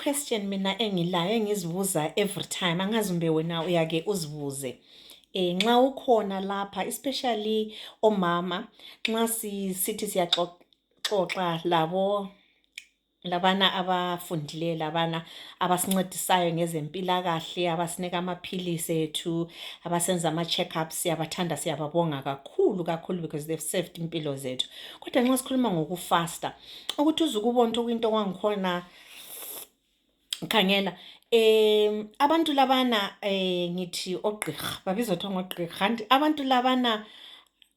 question mina engilayo engizibuza every time angazi umbe wena uyake uzibuze eh nxa ukhona lapha especially omama nxa sithi siyaxoxa labo labana abafundileyo labana abasincedisayo ngezempilakahle abasinika amaphilisi ethu abasenza ama-check-ups siyabathanda siyababonga kakhulu kakhulu because they've saved impilo zethu kodwa nxa sikhuluma ngokufasta ukuthi uze ukubona ukuthi okuyinto kwangikhona khangela um abantu labana um ngithi ogqirha babizwa kuthiwa ngogqirha kanti abantu labana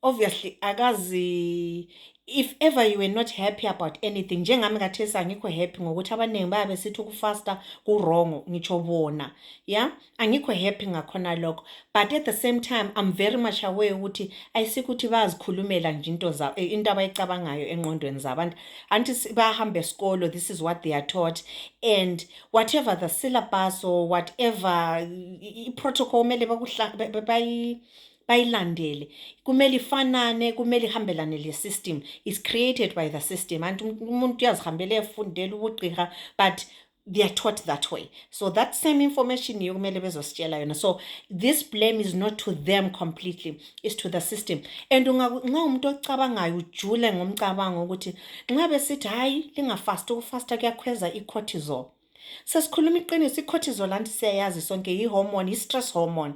obviously akazi if ever you were not happy about anything njengami kathesi angikho happy ngokuthi abaningi bayabe sithi ukufasta kurongo ngitsho bona ya angikho happy ngakhona lokho but at the same time i'm very much aware ukuthi ayisikuthi bayazikhulumela nje into zabo eh, into abayicabangayo enqondweni zabantu anti bahambe esikolo this is what they are taught and whatever the syllabus or whatever i-protocol kumele bayilandele kumele ifanane kumele ihambelane le system is created by the system anti umuntu uyazihambela efundela ubugqirha but they are taught that way so that same information yokumele bezositshela yona so this blame is not to them completely is to the system and nxa umuntu ocabangayo ujule ngomcabango ukuthi nxa besithi hhayi lingafasti ukufasta kuyakhweza i-cortisol sesikhuluma iqiniso i-cortisol anti siyayazi sonke yi-hormone yi-stress hormone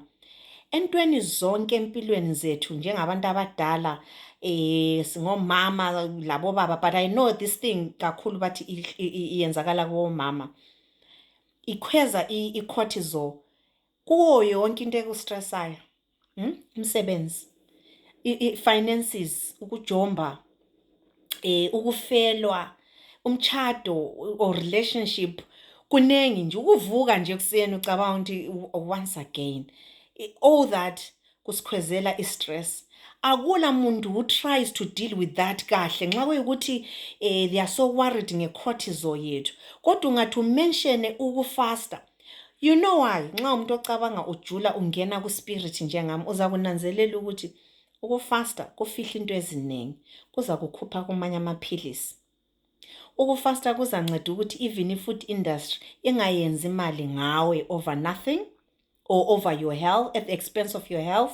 Entweni zonke empilweni zethu njengabantu abadala eh singomama labobaba but I know this thing kakhulu bathi i- i- i- iyenzakala kubomama ikhweza i- i-cortisol kuwo yonke into ekustressayo hmm? umsebenzi i- i- finances ukujomba eh ukufelwa umtshado or relationship kunengi nje ukuvuka nje ekuseni ucabanga ukuthi once again all that kusikhwezela i-stress akula muntu who tries to deal with that kahle nxa kuyikuthi um they are so worried ngecortisol yethu kodwa ungathi umenshene ukufasta you know why nxa umuntu ocabanga ujula ungena kuspirit njengami uza kunanzelela ukuthi Ukufasta kufihla into ezinengi, kuzakukhupha kumanye amaphilisi. Ukufasta kuzanceda ukuthi even i-food industry ingayenzi imali ngawe over nothing or over your health, at the expense of your health.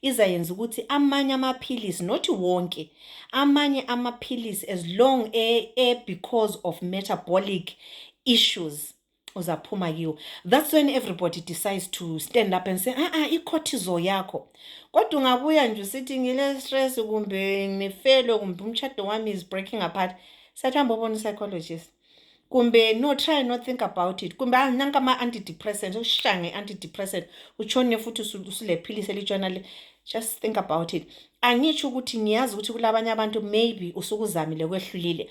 Izayenza ukuthi amanye amaphilisi, not wonke, amanye amaphilisi as long e, e because of metabolic issues uzaphuma kiwo that's when everybody decides to stand up and say a-a ah, ah, i-cortisol yakho kodwa ungabuya nje usithi ngile-stress kumbe ngifelo kumbe umtshado wami is breaking apart sathambe obona u-psychologist kumbe no try not think about it kumbe ah, nanka ama-antidepressant ushange antidepressant utshone futhi usulephilisi elitshona le just think about it angitsho ukuthi ngiyazi ukuthi kulabanye abantu maybe usukuzamile kwehlulile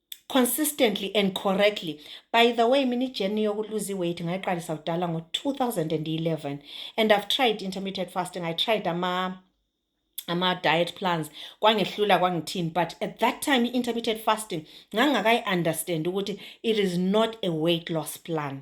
consistently and correctly by the way mini journey yokuluza iweight ngayiqalisa kudala ngo-2011 and i've tried intermittent fasting i tried ama ama-diet plans kwangehlula kwangithini but at that time i-intermittent fasting ngangingakayi-understand ukuthi it is not a weight loss plan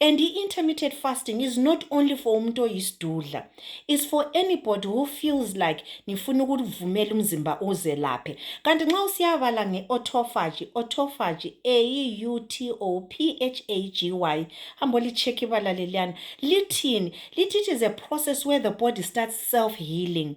And intermittent fasting is not only for umuntu oyisidudla. It's for anybody who feels like ngifuna ukuvumela umzimba uzelaphe. Kanti nxa usiyabala nge-autophagy, autophagy, A-U-T-O-P-H-A-G-Y, hambo licheck ibala leliyana, lithini? Lithi it is a process where the body starts self-healing.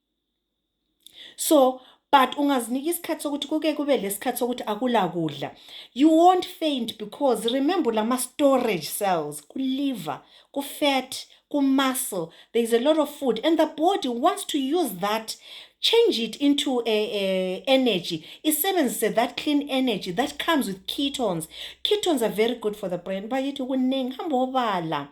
so but ungazinika isikhathi sokuthi kuke kube lesikhathi sokuthi akula kudla you won't faint because remember lama storage cells kuliver kufat kumuscle there is a lot of food and the body wants to use that change it into a, a energy isebenzise that clean energy that comes with ketones ketones are very good for the brain bayithi kuningi hamba obala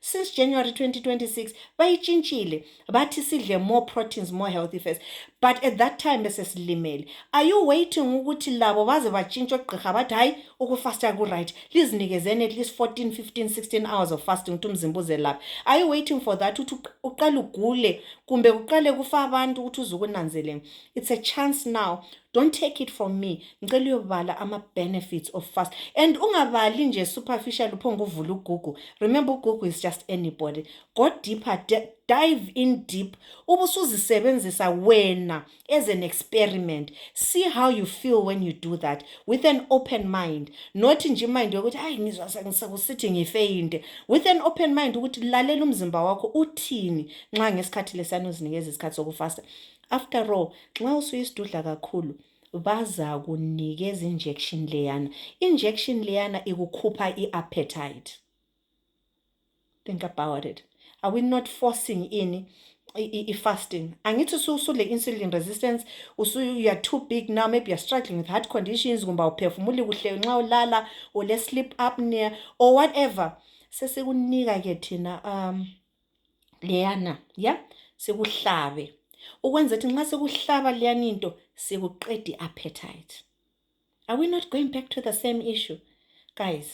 since January 2026 bayitshintshile bathi sidle more proteins more healthy fats but at that time besesilimele are you waiting ukuthi labo baze batshintshe ogqirha bathi hayi ukufasta kuright lizinikezeni at least 14 15 16 hours of fasting ukuthi umzimba uzelaphe are you waiting for that ukuthi uqale ugule kumbe kuqale kufa abantu ukuthi uze ukunanzeleni it's a chance now don't take it from me ngicela uyobala ama-benefits of fast and ungabali nje superficial uphonge uvula ugugu remember ugugu is just anybody go deeper dive in deep ubusuzisebenzisa wena as an experiment see how you feel when you do that with an open mind not nje imind yokuthi hayi ngizwa sekusithi ngifeyinde with an open mind ukuthi lalela umzimba wakho uthini nxa ngesikhathi lesiyani uzinikeza isikhathi sokufasta After all, nxa usuyisidudla kakhulu bazakunikeza injection leyana. Injection leyana ikukhupha i-appetite. Think about it. Are we not forcing in i-fasting? Angithi usule insulin resistance, usu you are too big now, maybe you are struggling with heart conditions, kumba uphefumuli kuhle nxa ulala, ule sleep apnea or whatever. Sesikunika ke thina um leyana ya sikuhlabe ukwenza ukuthi nxa sikuhlaba leyana into sikuqede appetite are we not going back to the same issue guys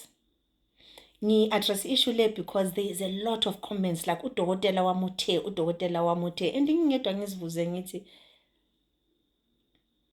ngi-address issue le because there is a lot of comments like udokotela wamuthe udokotela wamuthe and ngingedwa ngizibuze ngithi